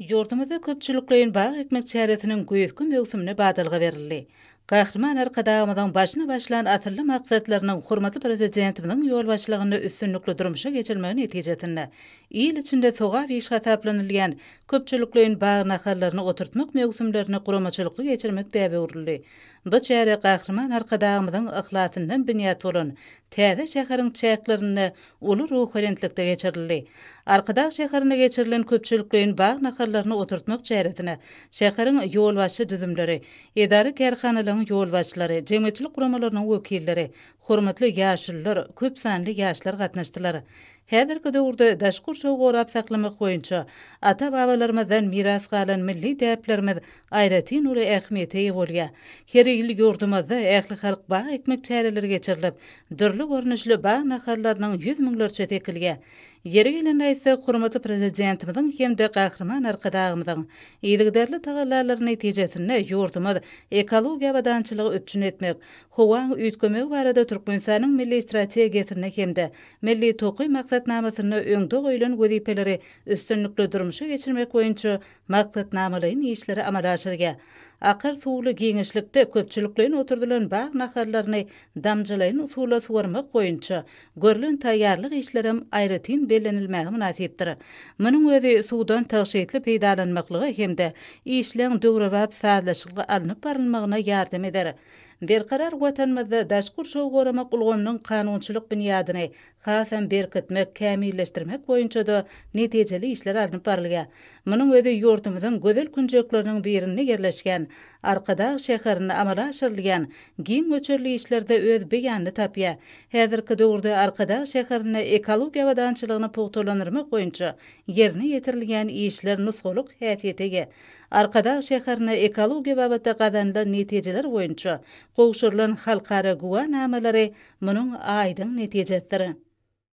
Ýurdumyzda köpçülikleýin bag ekmek çäresiniň güýzki möwsümine badalga berildi. Gahryman Arkadagymyzyň başyny başlan asylly maksatlarynyň hormatly Prezidentimiziň ýolbaşçylygynda üstünlikli durmuşa geçirilmegi netijesinde, il içinde sogap iş hasaplanylýan köpçülikleýin bag nahallaryny oturtmak möwsümlerini guramaçylykly geçirmek däbe öwrüldi. Bu çäre Gahryman Arkadagymyzyň yhlasyndan binýat bolan täze şäheriň çäklerinde uly ruhubelentlikde geçirildi. Arkadag şäherinde geçirilen köpçülikleýin bag nahallaryny oturtmak çäresine şäheriň ýolbaşçy düzümleri, edara-kärhanalaryň ýolbaşçylary, jemgyýetçilik guramalarynyň wekilleri, hormatly ýaşulular, köp sanly ýaşlar gatnaşdylar. Häzirki döwürde daş gurşawy gorap saklamak boýunça ata-babalarymyzdan miras galan milli däplerimiz aýratyn uly ähmiýete eýe bolýar. Her ýyl ýurdumyzda ählihalk bag ekmek çäreleri geçirilip, dürli görnüşli bag nahallarynyň ýüz müňlerçesi ekilýär. Ýeri gelende aýtsak, hormatly Prezidentimiziň hem-de Gahryman Arkadagymyzyň yzygiderli tagallalary netijesinde ýurdumyz ekologiýa abadançylygy üpjün etmek, howaň üýtgemegi barada Türkmenistanyň Milli strategiýasynda hem-de Milli tokaý maksatnamasynda öňde goýlan wezipeleri üstünlikli durmuşa geçirmek boýunça maksatnamalaýyn işleri amala aşyrýar. Akar suwly giňişlikde köpçülikleýin oturdylan bag nahallaryny damjalaýyn usulla suwarmak boýunça görlen taýýarlyk işlerem aýratyn bellenilmäge mynasypdyr. Munuň özi suwdan tygşytly peýdalanmaklyga hem-de işleň döwrebap sazlaşykly alnyp barylmagyna ýardam eder. Berkarar Watanymyzda daşky gurşawy goramak ulgamynyň kanunçylyk binýadyny hasam berkitmek, kämilleşdirmek boýunça-da netijeli işler alnyp barylýar. Munuň özi ýurdumyzyň gözel künjekleriniň birinde ýerleşýän Arkadag şäherinde amala aşyrylýan giň möçberli işlerde öz beýanyny tapýar. Häzirki döwürde Arkadag şäherinde ekologiýa abadançylygyny pugtalandyrmak boýunça ýerine ýetirilýän işler nusgalyk häsiýete eýe. Arkadag şäherine ekologiýa babatda gazanylan netijeler boýunça Gowşurylan halkara güwänamalary munuň aýdyň netijesidir.